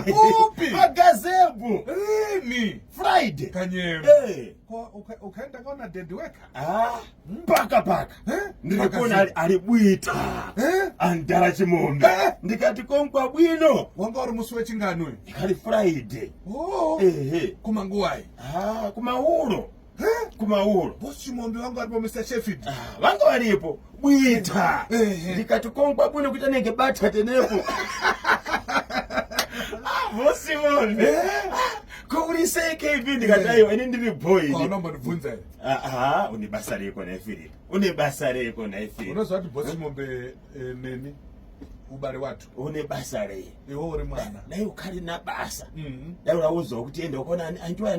Upi? Agazebu. Rini? Friday. Kanyemba. Eh. Ukaenda kona daddy weka. Ah. Paka paka. Eh? Ndikona ari buita. Eh? Andara chimombe. Eh? Ndikati konkwa bwino. Wanga uri musi wechinganwe. Ndikati Friday. Oh. Eh. Kuma nguwai. Ah, kuma uro. kumauro bosi mombe vangu varipo mr sheffield ah, vanga varipo bwita ndikati kongwa bwino kuita nenge batya tenepo ah, bosi mombe eh? kourisei kb ndikati aiwa ini ndiri boy unombondibvunza here aa une basa reko nhai philip une basa reko nhai philip unoziva kuti bosi mombe eh, neni ubari watu une basa rei iwe uri mwana dai ukari na basa mm-hmm. dai uraudzwa kuti enda ukona andiwa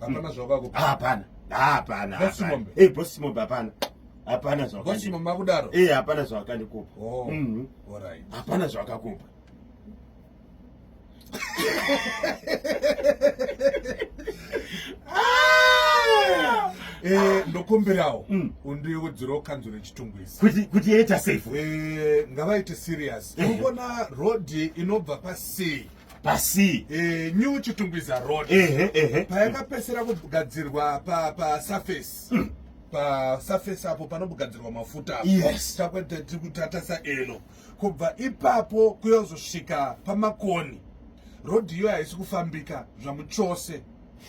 hapana zvavako hapana hapana eh boss mombe hapana hapana zvavako boss mombe makudaro eh hapana zvavakandikupa oh mm -hmm. all right hapana zvavakakupa ah! Eh, ndokumbirawo mm. undiudzirawo kanzuro yechitungwizi kuti yaita safe eh, ngavaite serious eh. unoona road inobva pasea pasi eh, new chitungwiza road ehe ehe payakapesera kugadzirwa pa pa surface mm. pa surface apo panobugadzirwa mafuta yes takwete tiri kutatasa elo kubva ipapo kuyozosvika pamakoni road iyo haisi kufambika zvamuchose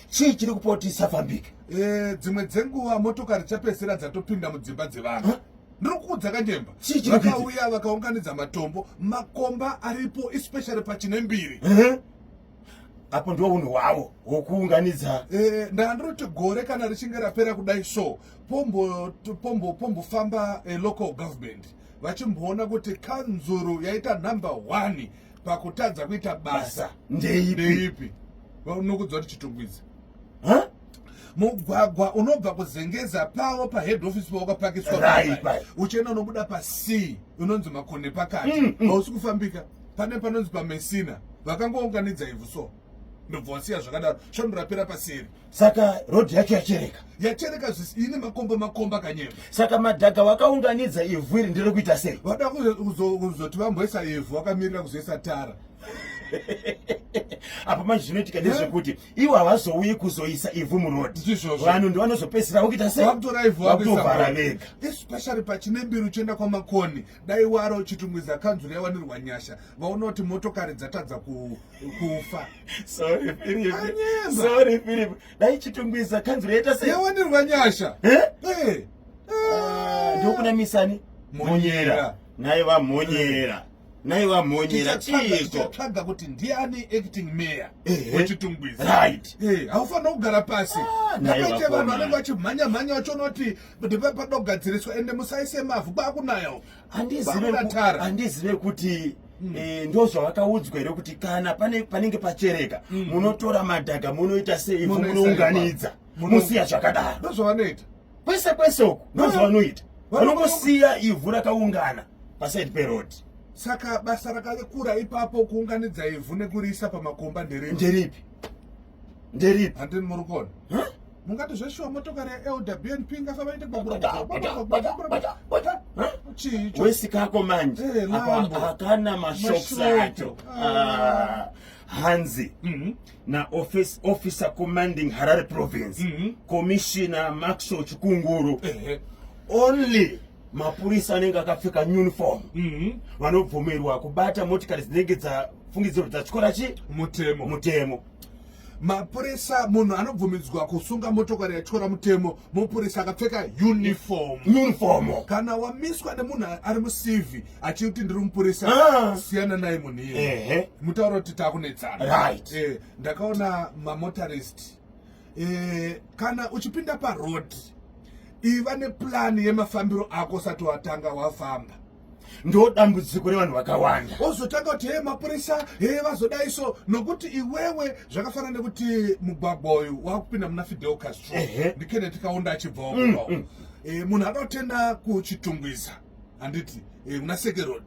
chii chiri kupoti isafambika eh, dzimwe dzenguva motokari chapesera dzatopinda mudzimba dzevanhu huh? ndiri kuudza kanyemba vakauya vakaunganidza matombo makomba aripo especially pachine mbiri apo ndiwo unhu hwavo hwokuunganidza eh, ndandiroti gore kana richinge rapera kudai so pombofamba eh, local government vachimboona kuti kanzuru yaita number one pakutadza kuita basa ndeipi nokudzwa tichitungwidza mugwagwa unobva kuzengeza pavo pahead office pawakapakiswa uchienda unobuda pacee unonzi makone pakati hausi mm, mm. kufambika pane panonzi pamesina vakangounganidza ivhu so ndobva wasiya zvakadaro svondo rapera paseri saka rodhi yacho yachereka yachereka ine makomba makomba kanyema saka madhaga wakaunganidza ivhu iri ndiri kuita sei vada kuzoti vamboisa ivhu wakamirira kuzoisa tara apa manje zvinoitika ndezvekuti ivo havazouyi kuzoisa ivhu muroad vanhu ndivanozopesera vokuita seitovhara vega especially pachine mbiri uchienda kwamakoni dai waro chitungwiza kanzuru yawanirwa nyasha vaona kuti motokari dzatadza kufa sorry philip dai chitungwiza kanzuru yaita sei yawanirwa nyasha eh? Eh. Ah, ndokuna misani monyera naye vamonyera naiva mhonyera chiikotsvaga kuti ndiani acting mayor wechitungwizi right eh, haufanira kugara pasi ah, ndapaite vanhu vanenge vachimhanya mhanya vachiona kuti ndipa panoda kugadziriswa ende musaise mavhu kwakunayawo handizive kuti Mm. Eh, ndo zvavakaudzwa here kuti kana panenge pachereka mm. munotora madhaga munoita sei munounganidza musiya zvakadaro ndozvavanoita kwese kwese uku ndozvavanoita vanongosiya ivhu rakaungana pasaidi peroad saka basa rakakura ipapo kuunganidza ivhu nekuriisa pamakomba nderipi nderipi nderipi handini muri kuona mungati zveshuwa motokari yelwbnp ingafavaite wesikako manje eh, akana mashoks acho ah. Ah. hanzi mhm. na office, officer commanding harare province mm -hmm. commissioner maxwell chikunguru uh -huh. only mapurisa anenge akapfeka uniform mm -hmm. vanobvumirwa kubata motikari dzinenge dzafungidziro dzachikora chi mutemo mutemo mapurisa munhu anobvumidzwa kusunga motokari yatyora mutemo mupurisa akapfeka uniform uniform kana wamiswa nemunhu ari mucv achiri kuti ndiri mupurisa ah. siyana naye munhu iye mutaura kuti takunetsana eh, ndakaona mamotorist eh, kana uchipinda paroad iva neplani yemafambiro ako usati watanga wafamba ndo dambudziko revanhu vakawanda ozotanga kuti hee mapurisa hee vazodai so nokuti iwewe zvakafanana nekuti mugwagwa uyu wakupinda muna fidel castro ndikene tikaunda achibvawo mm, mm. Eh, munhu anotenda kuchitungwiza handiti eh, kuna sekerod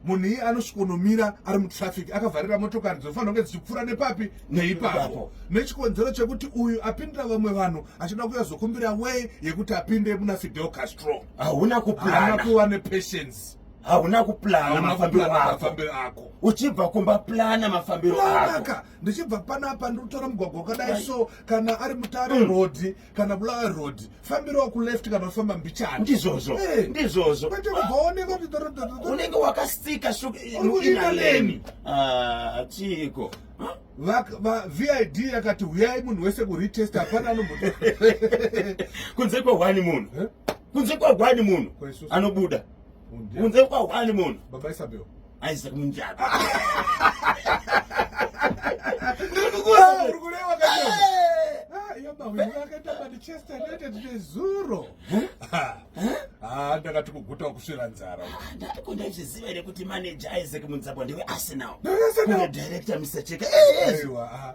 munhu iye anosvikonomira ari mutraffic akavharira motokari dzinofanira kunge dzichipfuura nepapi neipapo nechikonzero chekuti uyu apindira vamwe vanhu achida kuya zokumbira way yekuti apinde muna fidel castro hauna kupana kuva nepatience hauna kuplana mafambiro ako uchibva kumba plana mafambiro akoaka ndichibva panapa ndikutora mugwagwa wakadai so kana ari mutare mm. rhodhi kana bulawayo road fambiro wakuleft kana ufamba mbichana ndizvozvo eh. ndizvozvo kwete kubvaoneka kuti dorodoro unenge wakastika suinaleni ah, chiiko vid yakati huyai munhu wese kuretest hapana anomu kunze kwehwani munhu eh? kunze kwehwani munhu anobuda kunze kwehwani munhu baba isabel Isaac Munjata. Ndiri kukuona uri kurewa kacho. Ah, yaba wewe wakaita Manchester United nezuro. Ah, ndakati kuguta kusvira nzara. Ah, Ndiko ndaizviziva here kuti manager Isaac Munzabwa ndiwe Arsenal. Ndiwe Arsenal. Ndiwe director Mr. Cheka. Eh, eh. Aiwa. Ah.